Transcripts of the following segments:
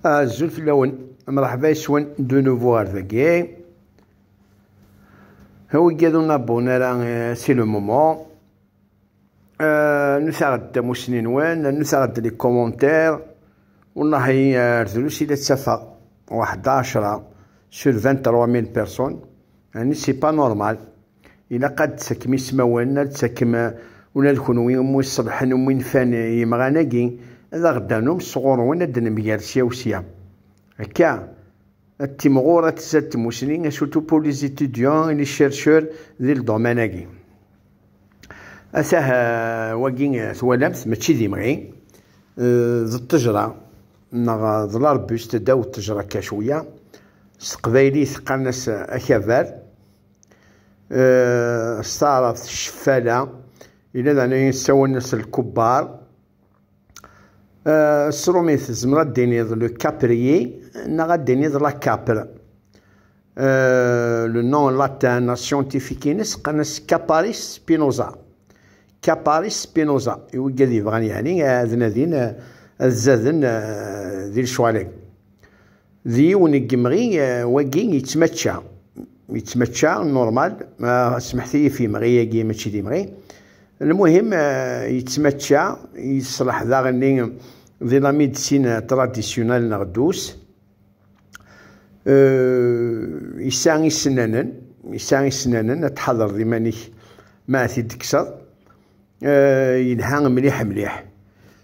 Azul fell-awen, mṛeḥba yes-wen de nouveau ɣer dagi. Aweggiḍ ur nabun ara si le moment. Nusaɣ-d tamussni-nwen, nusaɣ-d les commentaires. Wallahi ar drus i la ttafeɣ, waḥda ɛecra sur 23000 personnes. Yani c'est pas normal. Ilaq ad d-tettakem ismawen, ad d-tettakem ula d kunwi umi iṣeḍḥen, umi nfan yimɣan-agi, ad aɣ-d-tanum sɣur-wen ad d-nemger sya u sya. Akka, ad timɣur, ad tzad tmusni, et surtout pour les étudiants et les chercheurs di ldoman-agi. Atah wagi twalamt, mačči d imɣi, d ṭṭejra neɣ d l'arbuste, ddaw ṭṭejra akka cwiya, s teqbaylit qqaren-as akabar, eh, s taɛrabt ceffala yella daɛni yessawalen-as lkubbar eh, s rumit tezmer ad d-tiniḍ le caprier neɣ ad d-tiniḍ la capre eh, le nom latin la scientifique-ines qqaren-as caparis spinoza caparis spinoza i wigad yebɣan yeɛni ad nadin ad zaden di lecɣal-agi D yiwen n yemɣi wagi yettmačča, yettmačča normal, smeḥet-iyi ɣef yemɣi-agi mačči d imɣi, lmuhim yettmačča, yeṣleḥ daɣenni di la médecine traditionnelle neɣ douce, yesɛa isennanen, yesɛa isennanen, ad tḥadreḍ iman-ik ma ad t-id-tekkseḍ, yelha mliḥ mliḥ.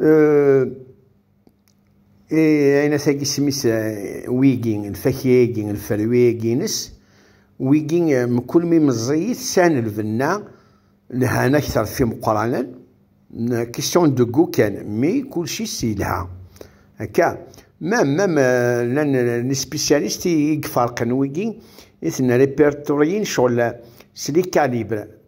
Euh, et ayen asagi isem-is euh, wigi lfakya-agi lferwi-agi-ines wigi euh, mkul mi meẓẓiyit sɛan lbenna lhan akteṛ fi meqqranen question de goût kan mi kulci s yelha akka même même lan les spécialistes i iferqen wigi i ten-repertoryin cɣel s les calibres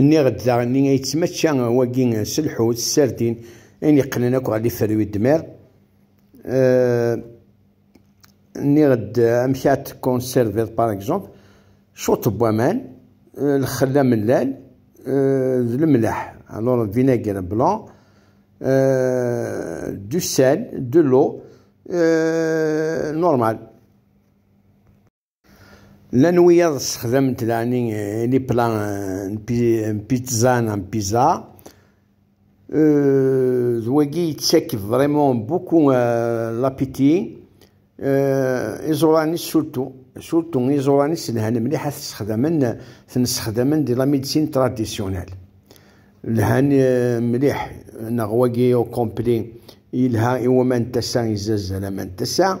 Nniɣ-d daɣen i yettmačča wagi s lḥut, s sardin, ayen yeqqnen akk ɣer lifer n udmar. Nniɣ-d amek ara t-conserviḍ par exemple, cwiṭ n waman, lxell amellal d lemleḥ, alors vinaigre blanc, du sel, de l'eau, normal. Llan wiyaḍ ssexdament laɛni li pla n pizza neɣ n pizza. D wagi yettak vraiment beaucoup l'appétit. Iẓuran-is surtout surtout iẓuran-is lhan mliḥ ad t-ssexdamen ten ssexdamen di la médecine traditionnelle. Lhan mliḥ neɣ wagi au complet yelha i waman n tasa izazzal aman n tasa.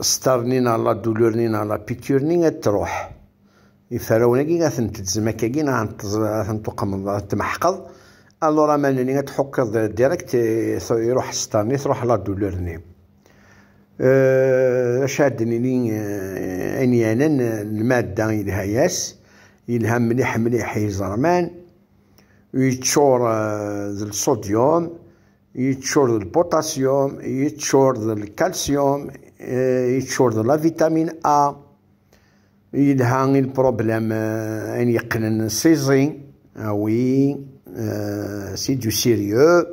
Star-nni neɣ la douleur-nni neɣ la piqûre-nni ad truḥ. Iferrawen-agi ad tent-tezem akkagi neɣ ad tent-tuqmeḍ, ad tent-tmeḥqeḍ. Alors aman-nni ad tḥukkeḍ direct iruḥ star-nni, truḥ la douleur-nni. Euh, acu ad d-nini euh, ayen yanan lmadda yelha-yas, yelha mliḥ mliḥ i iẓerman, yeččur euh, d lsodyum, yeččur d lpotasyum yeččur d lkalsyum eh, yeččur d la vitamin a yelha i lproblem eh, ayen yeqqnen siẓi awi eh, si du sérieux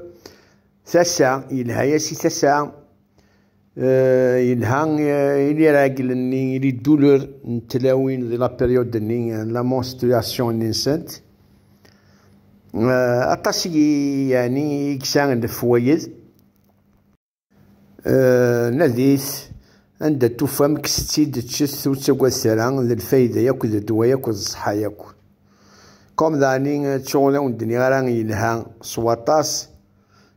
tasa yelha-yas i tasa yelha i liragel-nni, i lidulur n tlawin di la période-nni, la menstruation-nni-nsent. Aṭas i yani i yeksa lefwayed. Nadit anda tufam kkset-tt-id ččet ur ttagadet ara d lfayda yakk d ddwa yakk d ṣṣeḥḥa yakk. Comme dani ttuɣ ur awen-d-nniɣ ara yelha s waṭas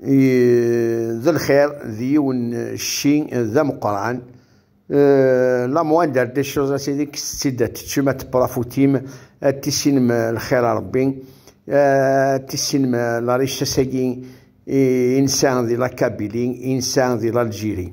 d lxir d yiwen cci d ameqqran euh, la moindre des choses c'est que c'est de tu m'as profutim tissinem lxir a Rebbi tissinem la richesse-agi insa di la Kabylie insa di l'Algérie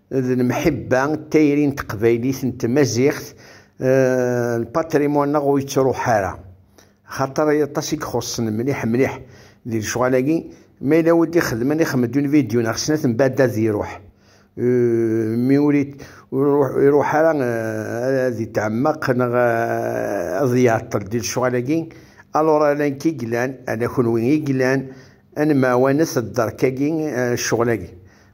d lemḥibba d tayri n teqbaylit n tmaziɣt lpatrimwan-nneɣ ur yettruḥ ara xaṭer aṭas i ixuṣṣen mliḥ mliḥ di lecɣal-agi ma yella wid ixedmen ixmed un vidyu neɣ snat n bad ad iruḥ mi ur iruḥ ara ad itɛemmeq neɣ ad iɛeṭṭel di lecɣal-agi alur ala nekk i yellan ala kenwi i yellan ad nemɛawanet dderk-agi ccɣel-agi